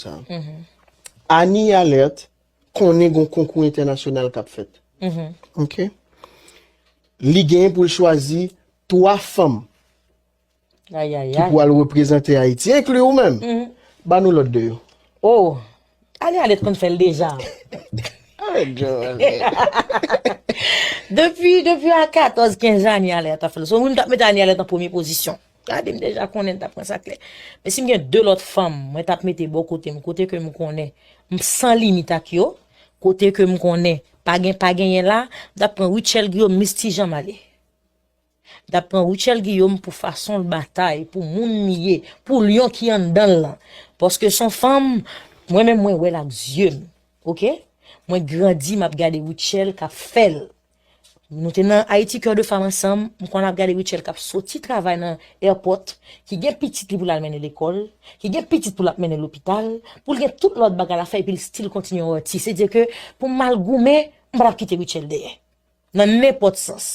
sa yo. Annie Alerte konnen gon konkou entènasyonal k ap fèt. Ok. Li genyen pou l chwazi 3 fanm ki pou al reprezante Ayiti, enkli ou menm. Ba nou lòt 2 yo. Oh! Annie Alerte konn fè l deja. Arèt jwe avè m. Depi a 14, 15 Annie Alerte ap fè l. Son moun k ap met Annie Alerte an premye pozisyon. Gade m deja konnen l tap pran sa klè. Men si m gen 2 lòt fanm mwen tap mete bò kote m, kote ke m konnen m san limit ak yo, kote ke m konnen pa gen pa genyen la, m tap pran Rutshelle Guillaume Miss Ti Jan Male. M tap pran Rutshelle Guillaume pou fason l batay, pou moun li ye, pou lyon ki anndan l lan. Paske son fanm mwen menm mwen wè l ak zye m. Ok. Mwen grandi map gade Rutshelle kap fè l. Nou te nan Haïti Coeur de Femme ansanm, m konn ap gade Rutshelle kap soti travay nan airport, ki gen pitit li pou l al mennen lekòl, ki gen pitit pou l ap mennen lopital, pou l gen tout lòt bagay l ap fè epi l still kontinye yon atis. Se di ke pou m al goumen, m pa t ap kite Rutshelle dèyè. Nan nenpòt sans.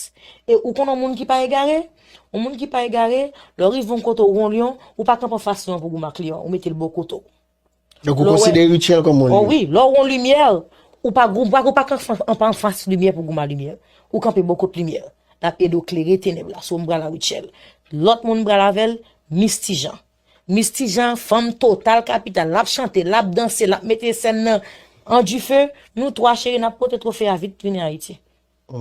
E ou konn yon moun ki pa egare? Yon moun ki pa egare, lè w rive yon kote ou wè yon lyon, ou pa kanpe anfas lyon an pou w goumen ak lyon an, ou mete l bò kote w. Donk ou konsidere rityèl kòm yon limyè? O wi, lè w wè yon limyè, ou pa kanpe anfas limyè pou w goumen a limyè. Ou kanpe bò kot limyè a. L ap ede w klere tenèb la. So m pral nan rityèl. Lòt moun m pral avè l, Mis Ti Jan. Mis Ti Jan, fanm total kapital. L ap chante, l ap danse, l ap mete sèn nan an dife. Nou twa cheri n ap pote twofe a vit vini Ayiti.